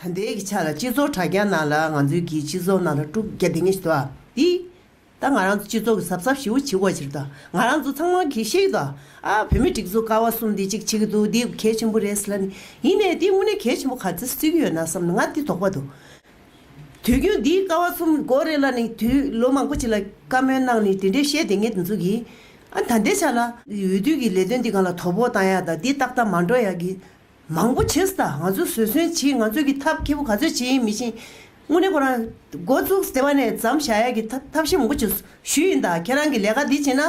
ད་ལྟའི་གི་ཆ་ལ་སྤྱི་ཚོགས་དྲ་རྒྱ་ནང་ལ་ང་ཚོའི་གི་སྤྱི་ཚོགས་ནང་ལ་དཀྲུག་རྒྱ་སྡིང་ངེ་ཞིག་དོ་དི། ད་ང་རང་ཚོ་སྤྱི་ཚོགས་གི་ཟབ་ཟབ་ཞིའུ་བྱིའུ་བ་བྱིར་དོ་ང་རང་ཚོ་ཚང་མ་གི་ཤེས་གི་དོ་ཨ་བོད་མི་སྒྲིག་འཛུགས་ཀ་བ་གསུམ་དི་གཅིག་བྱེད་གི་འདུག་དི་གལ་ཆེན་པོ་རེད་ལ་ནི་ཡིན་ནས་དི་དངོས་གནས་གལ་ཆེན་པོ་ག་ཚི་སུས་གི་ཡོད་ན་བསམ་ན་ང་དི་དོགས་པ་འདུག་དུས་རྒྱུན་དི་ཀ་བ་གསུམ་མགོ་རེད་ལ་ནི་དུས་ལོ་མང་པོ་ཅིག་ལ་བཀའ་མོལ་གནང་ནི་དེ་འདྲའི་ཤེས་སྡིང་ངེ་དི་འཛུགས་གི་ཨ་ད་ལྟའི་ཆ་ལ་འོས་བསྡུ་གི་ལས་དོན་དི་གང་ལ་དོ་པོ་གཏང་ཡག་དང་དི་ཏག་ཏག་མ་འགྲོ་ཡག་གི་མང་པོ་བྱས་ཟ་ང་ཚོས་བཟོད་བསྲན་བྱེད་ང་ཚོས་ཀྱི་ཐབས་མཁས་པོ་ག་ཚོད་བྱེད་ཡིན་མི་ཤེས། དངོས་གནས་ཁོ་རང་མགོ་བཙུགས་ཟེར་བ་ནས་ཛམ་བཞག་ཡག་གི་ཐབས་ཤེས་མང་པོ་བྱེད་ཞུས་ཡིན་ད་ཁྱེད་རང་གི་ལས་ཀ་འདི་བྱེད་ན།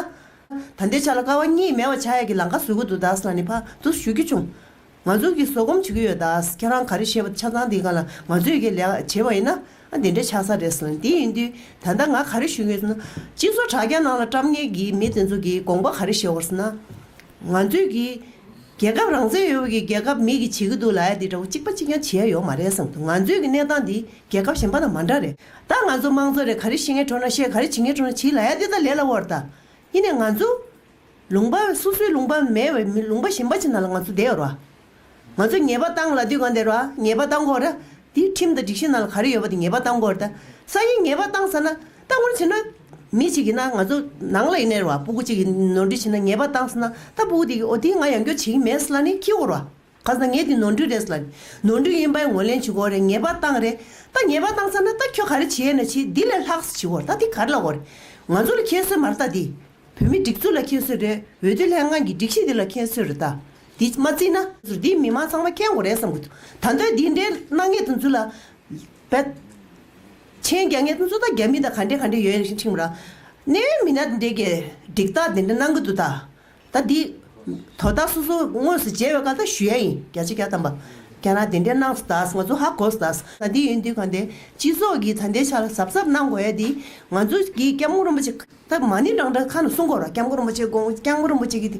ད་ལྟའི་ཆ་ལ་དཀའ་བ་གཉིས་མེད་པ་བྱ་ཡག་གི་ལང་ཀ་བཟོས་གི་འདུག་ད་ས་ནི་ཕ་ཏུ་ཞུ་རྒྱུ་བྱུང། ང་ཚོས་ཀྱི་བཟོད་སྒོམ་བྱེད་ཀྱི་ཡོད་ད་ཁྱེད་རང་ག་རེ་བཤད་པ་ཆ་ཚང་འདི་ག་ལ་ང་ཚོས་ཀྱི་ལས་ཀ་བྱེད་པ་ཡིན་ན་ཨ་འདི་འདྲ་ཆགས་ས་རེད་ཟེར་འདི་ཡིན་དུས་ད་ལྟ་ང་ག་རེ་ཞུ་ཡིན་ཟེར་ན། སྤྱི་ཚོགས་དྲ་རྒྱ་ནང་ལ་བཀྲམ་ངེས་ཀྱི་མི་དེ་ཚོ་གི་དགོངས་པ་ག་རེ་བཞེས་བར་ཟེར་ན། ང་ཚོའི་གི། རྒྱལ་ཁབ་རང་བཙན་ཡོད་པོ་གི་རྒྱལ་ཁབ་མིག་གི་བྱེད་གི་འདུག་ལ་ཡ་འདི་འདྲ་བོ་གཅིག་པ་གཅིག་ཀྱང་བྱེད་ཡ་ཡོད་མ་རེད་བསམ་འདུག་ང་ཚོའི་གི་གནས་སྟངས་འདི་རྒྱལ་ཁབ་གཞན་པ་དང་མ་འདྲ་རེད་ད་ང་ཚོ་མང་ཚོགས་རེད་ག་རེ་བཤད་ངེས་འཕྲོ་ན་བཤད་ག་རེ་བྱེད་ངེས་འཕྲོ་ན་བྱེད་ལ་ཡ་འདི་ད་ལས་ལ་བོར་ད་ཡིན་ནའི་ང་ཚོ། ལུང་པ་སོ་སོའི་ལུང་པ་མེད་བའི་མི་ལུང་པ་གཞན་པ་ཅིག་ན་ལ་ང་ཚོ་བསྡད་ཡོར་བ་ང་ཚོས་ངེས་པ་བཏང་ལ་དུས་གང་དེར་བ་ངེས་པ་བཏང་གོ། དེའི་ཁྲིམས་དང་སྒྲིག་གཞི་ནང་ལ་ག་རེ་ཡོད་པ་དེ་ངེས་པ་བཏང་གོ། ས་ཡིས་ངེས་པ་བཏང་ས་ན་བཏང་གོ་བྱས་ན། མི་ཞིག་ཡིན་ན་ང་ཚོ་ནང་ལ་ཡིན་ནའི་ར་བ་སྤུ་གུ་གཅིག་གིས་ནོར་འཁྲུལ་བྱས་ན་ངེས་པ་བཏང་ས་ན་ད་སྤུ་གུ་དེ་གིས་འོ་དེ་ང་ཡང་སྐྱོ་བྱེད་ཀྱི་མེད་ས་ལ་ནི་ཁྱི་གོ་ར་བ་ག་ས་ངས་དེ་ནོར་འཁྲུལ་རེད་ས་ལ་ནི་ནོར་འཁྲུལ་ཡིན་པའི་ངོས་ལེན་བྱེད་གོ་རེ་ངེས་པ་བཏང་རེ་ད་ངེས་པ་བཏང་ས་ན་ད་ཁྱོད་ག་རེ་བྱེད་ཡས་ན་བྱེད་དེ་ལས་ལྷག་ས་བྱེད་གོ་ར་ད་དེ་ག་རེ་ལ་གོ་རེ་ང་ཚོ་ལ་ཁྱད་གསོད་མ་ར་ད་དེ། བོད་མི་སྒྲིག་འཛུགས་ལ་མཁྱེན་སོས་རེད་འོས་བསྡུ་ལྷན་ཁང་གི་སྒྲིག་གཞི་འདི་ལ་མཁྱེན་སོས་རེད་ད་འདི་མ་བརྩིས་ན། ཟུར་འདིའི་མི་མང་ཚང་མ་མཁྱེན་དགོས་རེད་བསམ་གི་འདུག་ད་འདོད་འདི་འདྲའི་སྣང་ངེ་དང་རྫུན་ལ། བད། ཆེན་རྒྱ་ངེ་དང་ཙུ་ད་རྒྱ་མི་དང་ག་འདྲའི་ག་འདྲའི་ཡོད་ཡོད་ཤིང་ཁྲིང་མོ་ར། གནས་ཡོད་མི་སྣ་འདྲེ་གེ་འགྲིག་ད་འདི་འདྲ་སྣང་གི་འདུག་ད། ད་འདི། དོ་ད་སོ་སོ་དངོས་སུ་མཇལ་བའི་སྐལ་ད་ཞུ་ཡ་ཡིན་རྒྱ་ཆེ་རྒྱ་དམ་པ། རྒྱ་ནག་འདི་འདྲའི་སྣང་སོ་ད་ང་ཚོ་ཧ་གོ་སོ་ད། ད་འདི་ཡོད་འདི་ག་འདའི་སྤྱི་ཚོགས་ཀྱི་ད་འདའི་ཆ་ལ་གཟབ་གཟབ་སྣང་དགོས་ཡ་འདི་ང་ཚོ་གི་སྐྱབས་མགོན་རིན་པོ་ཆེ། ད་མ་ནི་རང་འདྲ་ཁ་ན་སྲུང་འཁོར་བ་སྐྱབས་མགོན་རིན་པོ་ཆེ་དགོངས་སྐྱབས་མགོན་རིན་པོ་ཆེ་གིས་དེ་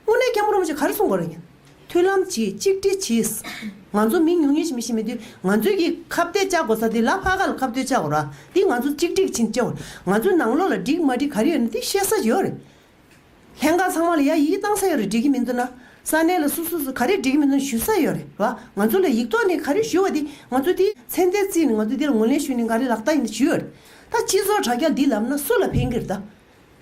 དངོས་གནས་སྐྱབས་མགོན་རིན་པོ་ཆེ་ག་རེ་སྲུང་འཁོར་ཡིན། མཐུན་ལམ་གྱིས་གཅིག་སྒྲིལ་གྱིས། ང་ཚོ་མི་ཉུང་ཉུང་ཞིག་མི་ཤེས་མི་དུས་ང་ཚོས་ཀྱིས་ཁ་བརྡས་བཅའ་དགོས་ས་དེ་ལ་བྷ་ག་ལ་ཁ་བརྡོས་བཅའ་དགོས་ར་འདི་ང་ཚོ་གཅིག་སྒྲིལ་གྱིས་བཅའ་དགོས་རེད་ང་ཚོའི་ནང་ལོག་ལ་འགྲིག་མ་འགྲིག་ག་རེ་ཡོད་ན་དེ་བཤད་ས་ཡོད་རེད། ལྷན་ཁང་ཚང་མ་ལ་ཡ་ཡིད་བཏང་ས་ཡོད་རེད་འགྲིག་གི་མི་འདུག་ན་ས་གནས་ལ་སོ་སོ་སོ་ག་རེ་འགྲིག་གི་མི་འདུག་ཞུ་ས་ཡོད་རེད་བ་ང་ཚོ་ལ་ཡིག་ཐོག་ནས་ག་རེ་ཞུ་བ་དེ་ང་ཚོ་དེའི་མཚན་རྟེན་བརྩིས་ནས་ང་ཚོ་དེ་ལ་ངོས་ལེན་ཞུས་ནས་ག་རེ་ལག་བསྟར་ཡིན་ད་ཞུ་ཡོད་རེད། ད་སྤྱི་ཚོགས་དྲ་རྒྱ་འདི་ལབ་ན་སུ་ལ་ཕན་གིར་གདའ།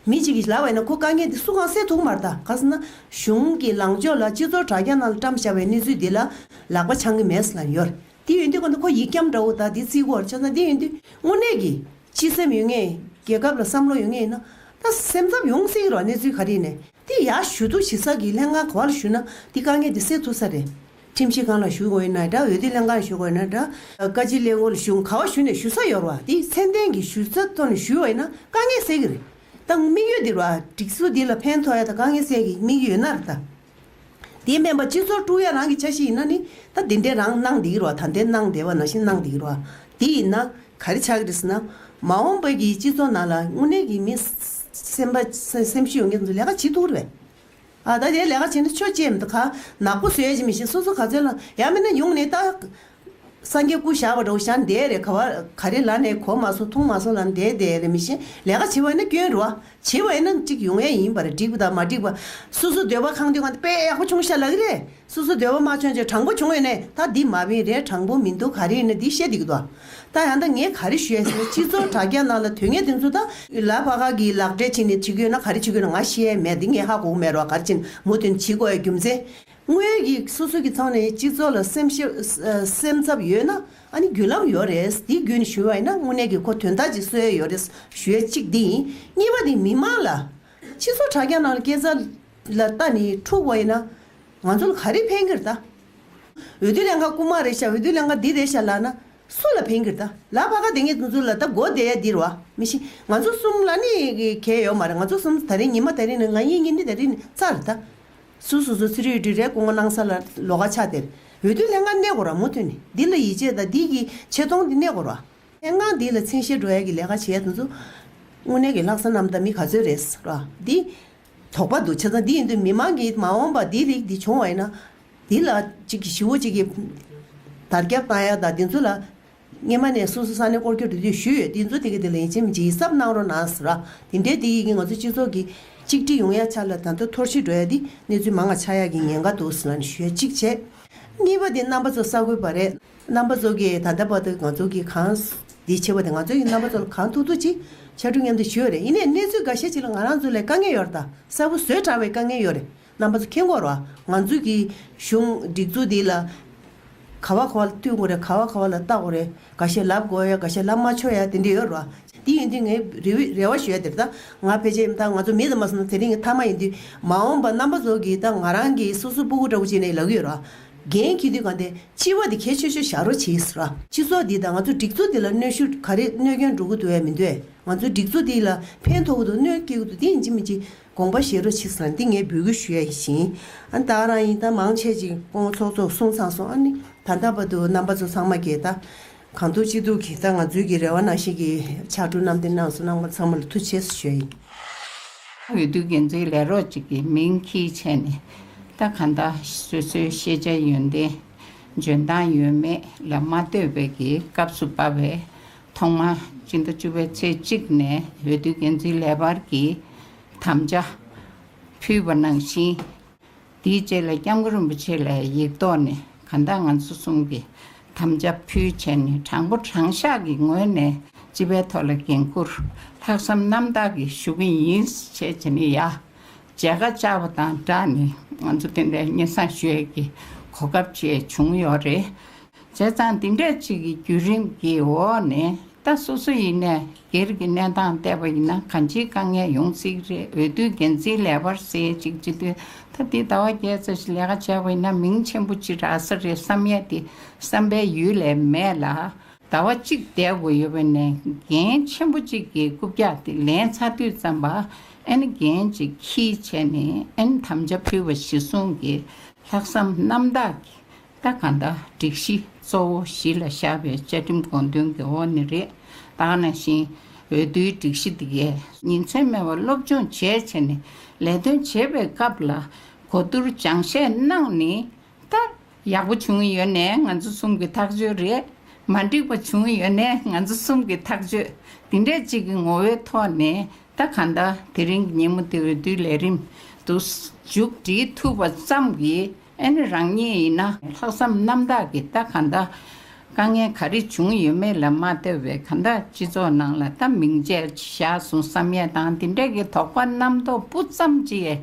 མི་གཅིག་གིས་ལབ་བས་ན་ཁོ་དཀའ་ངལ་འདི་སུ་གང་སེལ་ཐུག་མར་གདའ་ག་ཟེར་ན། གཞུང་གི་ལངས་ཕྱོགས་ལ་སྤྱི་ཚོགས་དྲ་རྒྱ་ནང་ལ་བཀྲམ་བཞག་པའི་གནས་ཚུལ་འདི་ལ་ལག་པ་འཆང་གི་མེད་ཟེར་ན་ཡོད་རེད། དེ་ཡོད་དུས་གོ་ན་ཁོ་ཡིག་སྐྱམ་འདྲ་བོ་དག་དེ་རྩིས་སྒོར་བཅོལ་ན་དེ་ཡོད་དུས་དངོས་གནས་ཀྱི་སྤྱི་སེམས་ཡོད་ངེས། རྒྱལ་ཁབ་ལ་བསམ་བློ་ཡོད་ངེས་ཡིན་ན། ད་སེམས་འཚབ་ཡོང་སྲིད་རོགས་གནས་ཚུལ་ག་རེ་ཡིན། དེ་ཡག་ཞུ་གཏུག་བྱེད་ས་གི་ལྷན་ཁང་ག་བ་ལ་ཞུ་ན་དེ་དཀའ་ངལ་འདི་སེལ་ཐུག་ས་རེད། ཁྲིམས་ཞིབ་ཁང་ལ་ཞུ་དགོས་ན་འདྲ་འོས་བསྡུ་ལྷན་ཁང་ལ་ཞུ་དགོས་ན་འདྲ། བཀའ་སྤྱི་གླེང་སྐོར་ལ་ཞུ་ག་བ་ཞུ་ནས་ཞུ་ས་ཡོར་བ་དེ་མཚན་ལྡན་གྱི་ཞུ་ས་ཐོ་ནས་ཞུ་བས་ན་དཀའ་ངལ་སེལ་གྱི་རེད་ད་ངོ་དམིགས་ཡོད་འདིར་བ་སྒྲིག་སྲོལ་འདི་ལ་ཕན་ཐོག་ཡ་ད་དཀའ་ངལ་སེལ་གྱི་དམིགས་ཡོད་ནར་ད་དེ་སྨན་པ་སྤྱི་ཚོགས་དཀྲུག་ཡ་རང་གི་ཆ་ཞིག་ཡིན་ན་ནི་ད་དེ་འདྲས་རང་གནང་བསྡད་ཀྱི་རོག་ད་འདས་གནང་བསྡད་བ་ནང་བཞིན་གནང་བསྡད་ཀྱི་རོག་དེ་ཡིན་ན་ག་རེ་ཆག་གི་རེད་ཟེར་ན་མ་འོངས་པའི་གི་སྤྱི་ཚོགས་ནང་ལ་དངོས་གནས་གི་མི་སེམས་པ་སེམས་ཤུགས་ཡོང་གི་ལས་ཀ་བྱེད་ཐུག་གི་རེད་བས། ད་རེས་ལས་ཀ་བྱེད་ན་ཆོས་བྱེད་མདོ་ཁ་ནག་པོ་བཟོས་ཡ་ཅི་མི་ཤེས་སོ་སོ་ག་ཚོད་ལ་ཡ་མིན་ན་ཡོང་ནས་ལྟ། སངས་རྒྱས་སྐུ་བཞག་པ་འདྲ་བོ་བཞག་འདས་རེད་ག་བ་ག་རེ་ལ་ནས་གོ་མ་སོང་མཐོང་མ་སོང་ལ་འདས་འདས་རེད་མི་ཤེས་ལས་ཀ་བྱེད་པ་ཡིན་ན་སྐྱོན་རུ་བ་བྱེད་པ་ཡིན་ན་གཅིག་ཡོང་ཡ་ཡིན་པ་རེད་འགྲིག་པ་དང་མ་འགྲིག་པ་སོ་སོ་འདོད་པ་གང་འདོད་གང་འདོད་དཔེ་ཡག་པོ་ཆུང་ཤ་ལ་གི་རེད་སོ་སོ་སྡེ་བ་མ་བྱོན་ཅིག་དྲང་པོ་བྱུང་ཡོད་ནས་ད་འདི་མ་བིན་རེད་དྲང་པོ་མིན་འདུག་ག་རེ་ཡིན་ན་འདི་བཤད་འདི་གི་འདུག་ད་ཡང་ད་ངས་ག་རེ་ཞུ་ཡ་ཟེར་ན་སྤྱི་ཚོགས་དྲ་རྒྱ་ནང་ལ་དོན་ངན་དེ་ཚོ་ད་ལ་བ་ག་གི་ལག་འབྲས་བྱིན་ནས་བྱེད་གི་ཡོད་ན་ག་རེ་བྱེད་གི་ཡོད་ན་ང་ཤེས་ཡ་མེད་འདི་ངས་ཧ་གོ་གི་མེད་རོ་ག་རེ་བྱིན་མོ་དོན་བྱེད་གོ་ཡ་རྒྱུ་མཚན་དངོས་ཀྱི་སོ་སོ་གི་ཚང་ནས་སྤྱི་ཚོགས་ལ་སེམས་ཤེས་སེམས་འཚབ་ཡོད་ན་ཨ་ནི་རྒྱུ་ལམ་ཡོད་རེད་འདི་རྒྱུ་ནས་ཞུ་བ་ཡིན་ན་དངོས་གནས་གི་ཁོ་དོན་དག་ཅིག་གསོལ་ཡ་ཡོད་རེད་ཞུ་ཡ་གཅིག་འདི་ཡིན་གཉིས་པ་འདི་མི་མང་ལ་ཕྱིས་སུ་དྲ་རྒྱ་ནང་སྐད་ཟ་ལ་ལྟ་ནི་འཁྲུག་བ་ཡིན་ན། ང་ཚོ་ལ་ག་རེ་ཕན་གྱིར་ལྟ། འོས་བསྡུ་ལས་འགའ་རྐུ་མ་རེད་ཤག་འོས་བསྡུ་ལས་འགའ་འདི་རེད་ཤག་ལབ་ན་སུ་ལ་ཕན་གྱིར་ལྟ། ལ་བྷ་ག་དེ་ངས་འཛུགས་ལ་ལྟ་མགོ་བདེ་ཡ་འདིར་བ་མི་ཤི་ང་ཚོ་གསུམ་ལ་ནི་གལ་ཡོད་མ་རེད་ང་ཚོ་གསུམ་ད་རིང་ཉི་མ་ད་རིང་ནི་ང་ཡིན་ངེད་གཉིས་ད་རིང་ནི་རྩ་རེད་ལྟ། སུ་སོ་སོ་ཚི་རུའི་འདྲུད་རལ་རྐུ་མ་གནང་ས་ལ་ལོ་ག་ཆག་དེར་འོས་བསྡུ་ལས་འགའ་གནས་དགོ་ར་མོ་ཐོན་ནི་འདི་ལ་ཡིད་ཆེས་དང་འདི་གི་ཆེ་མཐོང་འདི་གནས་དགོ་ར། མཚན་གང་འདི་ལ་མཚན་གཞིར་འགྲོ་ཡ་གི་ལས་ཀ་བྱེད་ཡ་དུ་འདུག། དངོས་གནས་ཀྱི་ལྷག་བསམ་རྣམ་དག་མི་ག་ཚོད་རེད་ཟེར་བ་འདི། དོགས་པ་འདུག་བྱས་ཙང་འདི་ཡིན་དུས་མི་མང་གིས་མ་འོངས་པར་འདིའི་རིགས་འདི་བྱུང་བ་ཡིན་ན། འདི་ལ་གཅིག་གིས་ཞི་བོ་གཅིག་གིས་དར་རྒྱབ་བཏང་ཡ་དང་འདི་ཚོ་ལ། སྔེན་མ་ནས་སོ་སོ་ས་ནས་བསྐོར་རྒྱུར་འདི་དུས་ཞུས་ཡོད་འདི་ཚོ་དེ་གི་དེ་ལ་ཡིན་ཕྱིན་མི་བྱེད་ཡིད་གཟབ་གནང་རོགས་གནང་ཟེར་བ་འདི་འདྲའི་འདི་ཡིན་གི་ང་ཚོ་སྤྱི་ཚོགས་ཀྱི་གཅིག་སྒྲིལ་ཡོང་ཡ་ཆ་ལ་དར་མདོ་འཐོར་ཕྱིར་འགྲོ་ཡ་འདི་གནས་ཚུལ་མང་ང་ཆ་ཡ་གི་ཉེན་ཁ་འདུག་ཟེར་བ་ནི་ཞུས་ཡ་གཅིག་བྱས། གཉིས་པ་འདི་རྣམ་པ་ཚོ་ས་གོས་པ་རེད། རྣམ་པ་ཚོགས་ཀྱིས་ད་ལྟ་བར་དུ་ང་ཚོ་གིས་གང། འདི་ཆེ་བ་དེ་ང་ཚོ་ཡི་རྣམ་པ་ཚོགས་ལ་གང་ཐུག་ཐུག་ཅིག་བྱ་འགྲོ་སྙམ་དུ་ཞུ་ཡོད་རེད་ཡིན་ནས་གནས་ཚུལ་འགའ་ཤས་ཅིག་ལ་ང་རང་ཚོ་ལས་དཀའ་ངལ་ཡོད་དང་གསལ་པོ་བཟོས་དྲགས་བའི་དཀའ་ངལ་ཡོད་རེད་རྣམ་པ་ཚོ་ཁྱེད་འཁོར་བ་ང་ཚོ་གིས་གཞུང་སྒྲིག་འཛུགས་འདི་ལ་ག་བ་ག་བ་ལ་མཐུན་དགོས་རེད་ག་བ་ག་བ་ལ་ལྟ་དགོས་རེད་ག་ཤེད་ལབ་དགོས་ཡ་ག་ཤེད་ལབ་མ་ཆོག་ཡ་དེ་འདྲ་ཡོད་རེད་བ། འདི་ཡིན་དུས་ངས་རེ་བའི་རེ་བ་ཞུ་ཡ་དེ་རེད་ད་ང་ཕལ་ཆེར་ཡིན་ད་ང་ཚོ་མི་ཚང་མ་སོང་ན་དེ་རིང་གི་མཐའ་མ་ཡིན་དུས་མ་འོངས་པ་རྣམ་པ་ཚོགས་ཀྱིས་ད་ང་རང་གིས་སོ་སོའི་སྤུ་གུ་འདྲ་བོ་བྱས་ནས་ལག་གི་ཡོད་རེད་བ། རྒན་ཁྱེད་དུས་གང་དེ་ལྕི་བ་དེ་ཁྱེད་ཆོས་ཆོས་བཞག་རོགས་བྱེས་ར། སྤྱི་ཚོགས་འདི་དང་ང་ཚོ་སྒྲིག་འཛུགས་འདི་ལ་གནོད་ཤུགས་ག་རེ་གནོད་མཁན་འགྲོ་གི་འདུག་བས་མི་འདོད་ང་ཚོ་སྒྲིག་འཛུགས་འདི་ལ་ཕན་ཐོག་གི་འདུག་གནོད་སྐྱེལ་གི་འདུག་དེ་ཡིན་གཅིག་མིན་གཅིག་དགོངས་པ་བཞེས་རོགས་བྱེས་ར་འདི་ངས་འབུལ་གི་ཞུ་ཡ་ཡིན་ཞིང་ཨ་ནི་ད་རང་ཡིན་ད་མང་ཆེ་ཅིག་ཀོང་བོ་ཚོགས་གཙོ་སོང་ཚང་སོང་ཨ་ནི་ད་ད་པ་འདུག་རྣམ་པ་ཚོ་ཚང་མ་གྱེས་ད། གང་ཐུགས་ཅི་ཐུགས་ཀྱིས་ད་ང་ཚོའི་གི་རེ་བ་ནང་བཞིན་གྱི་ཕྱག་གྲུ་གནམ་བསྟན་གནང་སོང་གནང་བ་ཚང་མ་ལ་ཐུགས་ཆེ་ས་ཞུ་ཡི། འོས་བསྡུ་འགན་འཛིན་ལས་རོགས་ཅིག་གི་མིང་གིས་བྱས་ནས་ད་གང་ལྟ་སོ་སོའི་ཤེས་བྱ་ཡོན་ཏན་འཇོན་ཐང་ཡོད་མེད་ལ་མ་ལྟོས་པའི་གི་སྐབས་སུ་བབས་པས་ཐོག་མར་སྤྱི་ཟླ་བཅུ་བའི་ཚེས་གཅིག་ནས་འོས་བསྡུ་འགན་འཛིན་ལས་འཕར་གྱི་དམ་བཅའ་ཕུལ་བ་ནང་བཞིན་དེའི་རྗེས་ལ་སྐྱབས་མགོན་རིན་པོ་ཆེ་ལ་ཡིག་ཐོག་ནས་གང་ལྟར་ང་ཚོ་གསུམ་གྱིས་དམ་བཅའ་ཕུལ་བྱས་ནས་དྲང་པོ་དྲང་བཞག་གི་ངོས་ནས་སྤྱི་པའི་ཐོག་ལ་འགན་འཁུར་ལྷག་བསམ་རྣམ་དག་གིས་ཞུ་གི་ཡིན་ཞེས་བྱས་ནས་ཡར་མཇལ་ཁ་བཅར་བ་དང་སྦྲགས་ནས་ང་ཚོ་དེ་འདྲའི་སྙན་བཟང་ཞུ་ཡས་ཀྱི་གོ་སྐབས་བཅས་བྱུང་ཡོད་རེད། བྱས་ཙང་འདི་འདྲས་ཅིག་གི་བརྒྱུད་རིམ་གྱི་འོག་ནས་ད་སོ་སོ་ཡི་གནས་སྒེར་གྱི་གནས་སྟངས་བལྟས་པ་ཡིན་ན་གང་ཅིའི་དཀའ་ངལ་ཡོང་སྲིད་རེད་འོས་བསྡུའི་འགན་འཛིན་ལས་པར་གསལ་ཅིག་བྱེད་དུས་ད་འདི་ཟླ་བ་བརྒྱད་ཙམ་ཞིག་ལས་ཀ་བྱས་པ་ཡིན་ན་མིང་ཆེན་པོ་ཅིག་རག་ས་རེད་བསམ་ཡས་དེ་བསམ་པའི་ཡུལ་ལས་མེད་ལ། ཟླ་བ་གཅིག་བསྡད་དགོས་ཡོད་པ་ནས་འགན་ཆེན་པོ་ཅིག་གི་རྐུབ་བཀྱག་དེ་ལན་ཚ་དུས་བརྩམས་པ་ཨན་འགན་ཅིག་ཁྱིས་བྱས་ནས་ཨན་དམ་བཅའ་ཕུལ་བ་གཞི་བཟུང་གི་ལྷག་བསམ་རྣམ་དག་གིས་ལྟ་གང་ལྟ་སྒྲིག་གཞི་གཙོ་བོ་གཞི་ལ་བཞག་པའི་བཅའ་ཁྲིམས་དགོངས་དོན་གྱི་འོག་ནས་རེད་དྭགས་ན་ཞིང་འོས་བསྡུའི་སྒྲིག་གཞི་འདི་གས། ཉིན་མཚན་མེད་པར་སློབ་སྦྱོང་བྱས་བྱས་ནས་ལས་དོན་བྱེད་པའི་སྐབས་ལ་གོ་བསྡུར་སྦྱང་བཤད་གནང་ནི་ལྟར་ཡག་པོ་བྱུང་ཡོད་ནས་ང་ཚོ་གསུམ་གྱི་ཐག་གཅོད་རེད་མ་འགྲིག་པ་བྱུང་ཡོད་ནས་ང་ཚོ་གསུམ་གྱི་ཐག་གཅོད་འདི་འདྲས་གཅིག་གི་ངོ་བོའི་ཐོག་ནས་ལྟ་གང་ལྟ་དེ་རིང་གི་ཉིན་མོ་འདི་འོས་བསྡུའི་ལས་རིམ་དུ་མཇུག་སྒྲིལ་ཐུབ་པ་ཙམ་གྱིས། ཨེ་ནི་རང་ཉིད་ཡིན་ན་ལྷག་བསམ་རྣམ་དག་གིས་ལྟ་གང་དག། དཀའ་ངལ་ག་རེ་བྱུང་ཡོད་མེད་ལ་མ་ལྟོས་པའི་གང་དག་སྤྱི་ཚོགས་ནང་ལ་ལྟ་མིང་ཅད་བཞག་སོང་བསམ་ཡས་དང་འདི་འདྲ་གི་དོགས་པ་རྣམ་རྟོག་སྤུ་ཙམ་ཅི་ཡས་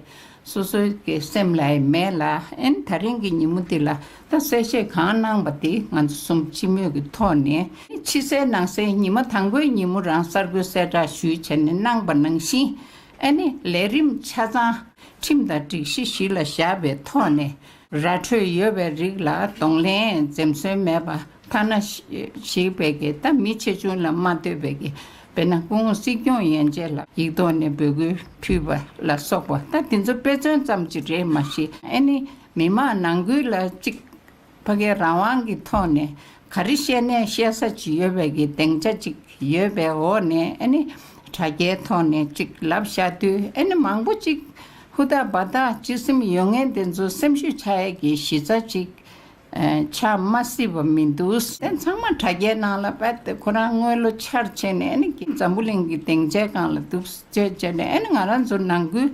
སོ་སོའི་གི་སེམས་ལ་ཡས་མེད་ལ་ཨེན་ད་རིང་གི་ཉིན་མོ་འདི་ལ་ལྟ་གསལ་བཤད་གང་གནང་པ་འདི་ང་ཚོ་གསུམ་སྤྱི་མོས་གི་ཐོག་ནས་ཕྱི་གསལ་ནང་གསལ་ཉི་མ་དང་པོའི་ཉིན་མོ་རང་གསར་འགོད་གསལ་བསྒྲགས་ཞུས་བྱས་ནས་གནང་པ་ནང་བཞིན་ཨ་ནི་ལས་རིམ་ཆ་ཚང། ཁྲིམས་དང་སྒྲིག་གཞི་གཞི་ལ་བཞག་པའི་ཐོག་ནས་ར་འཕྲོད་ཡོད་པའི་རིགས་ལ་གདོང་ལེན་འཛེམ་ཟོན་མེད་པ་ཐ་ན་ཞིག་བེད་ཀྱི་ད་མི་ཆེ་ཆུང་ལ་མ་ལྟོས་པེད་ཀྱི་བེད་ན་སྐུ་ངོ་སྲིད་སྐྱོང་ཡན་ཆད་ལ་ཡིག་ཐོག་ནས་འབོད་སྐུལ་ཕུལ་བ་ལ་སོགས་པ་ད་དེ་ཚོ་དཔེ་མཚོན་ཙམ་གྱི་རེད་མ་གཞི་ཨ་ནི་མི་མང་ནང་ཁུལ་ལ་གཅིག་ཕ་གའི་རང་དབང་གི་ཐོག་ནས་ག་རེ་བཤད་ནས་བཤད་ས་ཅི་ཡོད་པའི་གི་གདེང་ཆ་ཅིག་ཡོད་པའི་འོག་ནས་ཨ་ནི་དྲ་རྒྱའི་ཐོག་ནས་ཅིག་ལབ་བཞག་དུས་ཨ་ནི་མང་པོ་ཅིག་ཧུ་ཐག་འབའ་ཐག་སྤྱི་སེམས་ཡོད་ངེས་དེ་ཚོ་སེམས་ཤུགས་ཆག་ཡས་ཀྱི་གཞི་རྩ་ཅིག་ཆག་མ་སྲིད་པ་མི་འདུག། དེ་ཚང་མ་དྲ་རྒྱའི་ནང་ལ་བད་དེ་ཁོ་རང་དངོས་ལོ་ཆར་ཆེ་ནས་ཨ་ནི་གི་འཛམ་བུ་གླིང་གི་གདེང་ཆའི་སྒང་ལ་དུབ་ཟེར་བྱས་ནས་ཨ་ནི་ང་རང་ཚོ་ནང་ཁུལ་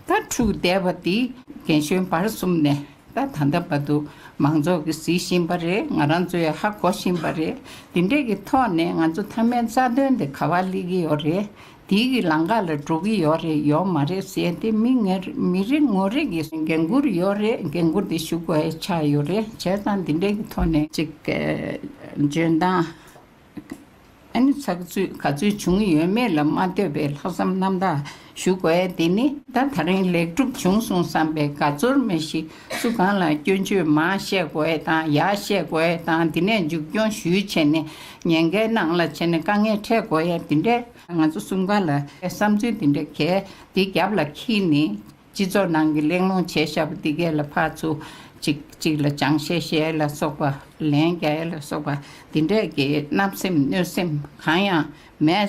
དག་འཁྲུགས་བསྡད་པ་དེ་རྒན་གཞོན་བར་གསུམ་ནས་ད་ད་ད་བ་འདུག་མང་ཚོགས་ཀྱི་ཟི་བཞིན་པ་རེད་ང་རང་ཚོ་ཡ་ཧ་གོ་བཞིན་པ་རེད་འདི་འདྲས་ཀྱི་ཐོག་ནས་ང་ཚོ་མཐའ་མའི་རྩ་དོན་དེ་ག་བ་སླེ་གི་ཡོད་རེད་དེའི་གི་ལང་ཀ་ལ་འགྲོ་གི་ཡོད་རེད་ཡོད་མ་རེད་ཟེར་ཏེ་མི་ངན་མི་རེ་ངོ་རེ་གི་འགན་ཁུར་ཡོད་རེད་འགན་ཁུར་དེ་ཞུགས་པ་ཡ་ཆགས་ཡོད་རེད་བྱས་ཙང་འདི་འདྲས་ཀྱི་ཐོག་ནས། ཅིག་གི་འཇོན་ཐང། ཨ་ནི་ཚགས་ཚུད་ག་ཚོད་བྱུང་ཡོད་མེད་ལ་མ་ལྟོས་པའི་ལྷག་བསམ་རྣམ་དག་ཞུ་དགོས་ཡ་འདི་ནི། ད་ད་རིང་ལེགས་གྲུབ་བྱུང་སོང་བསམ་པའི་དགའ་ཚོར་མེད་ཤི་སུ་གང་ལ་སྐྱོན་བརྗོད་མང་བཤད་དགོས་ཡ་དང་ཡག་བཤད་དགོས་ཡ་དང་འདི་ནས་མཇུག་སྐྱོང་ཞུས་བྱས་ནས་ཉེན་ཁའི་ནང་ལ་བྱས་ནས་དཀའ་ངལ་འཕྲད་དགོས་ཡ་འདི་འདྲས། ང་ཚོ་གསུམ་ག་ལ་བསམ་ཚུལ་འདི་འདྲ་གལ་ཏེ་རྒྱབ་ལ་འཁྱིལ་ནི་སྤྱི་ཚོགས་ནང་གི་གླེང་སློང་བྱས་བཞག་པ་འདི་གས་ལ་ཕར་ཚུར། གཅིག་གཅིག་ལ་སྦྱང་བཤད་བཤད་ལ་སོགས་པ། ལན་རྒྱག་ཡ་ལ་སོགས་པ་འདི་འདྲས་ཀྱིས་བརྣབ་སེམས་གནོད་སེམས་གང་ཡང་མེད།